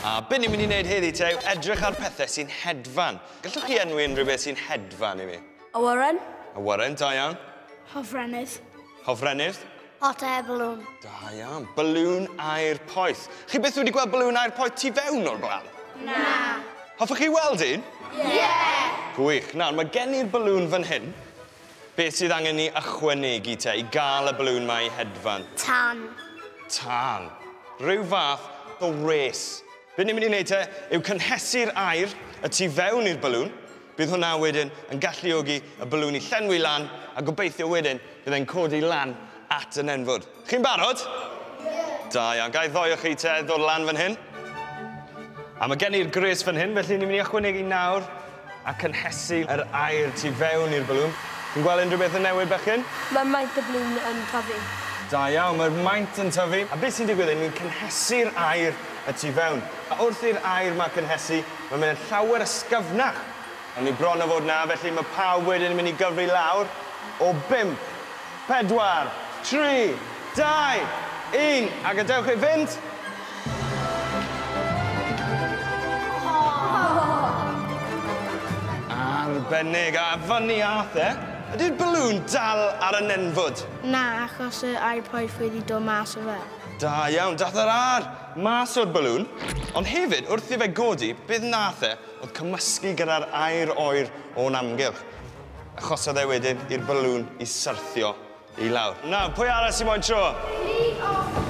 A be ni'n mynd i wneud heddi te yw edrych ar pethau sy'n hedfan. Gallwch chi enwi unrhyw beth sy'n hedfan i mi? Awyren. Awyren, da iawn. Hofrennydd. Hofrennydd. Hot air balloon. Da iawn. Balloon air poeth. Chi byth wedi gweld balloon air poeth tu fewn o'r blaen? Na. Hoffech chi weld un? Ie! Yeah. Gwych. Nawr, mae gen i'r balloon fan hyn. Beth sydd angen ni ychwanegu te i gael y balloon mae i hedfan? Tan. Tan. Rhyw fath o res. Be ni'n mynd i wneud te yw cynhesu'r air y tu fewn i'r balloon Bydd hwnna wedyn yn galluogi y balŵn i llenwi lan a gobeithio wedyn bydd e'n codi lan at y nenfwd. Chi'n barod? Ie! Da iawn, ga i ddoe o chi te ddod lan fan hyn? A mae gen i'r gres fan hyn, felly ni'n mynd i ychwanegu nawr a cynhesu yr aer tu fewn i'r balŵn. Chi'n gweld unrhyw beth yn newid bechgyn? Mae maint y balŵn yn tyfu. Da iawn, mae'r maint yn tyfu, a beth sy'n digwydd yw ni'n cynhesu'r aer y tu fewn, a wrth i'r aer 'ma cynhesu, Mae'n mynd yn llawer ysgyfnach. Awn ni bron a fod 'na, felly mae pawb wedyn yn mynd i gyfri lawr o bump, pedwar, tri, dau, un, a gadewch e fynd! Arbennig! A fyny âth e! Ydi'r balŵn dal ar y nenfwd? Na, achos yr iPod wedi dod mas o fe. Da iawn, dath yr âr! Mas o'r balŵn, ond hefyd wrth i fe godi, beth nath e oedd cymysgu gyda'r aer oer o'n amgylch. Achosodd e wedyn i'r balŵn i syrthio i lawr. Nawr, pwy arall sy'n moyn tro? Fi! O!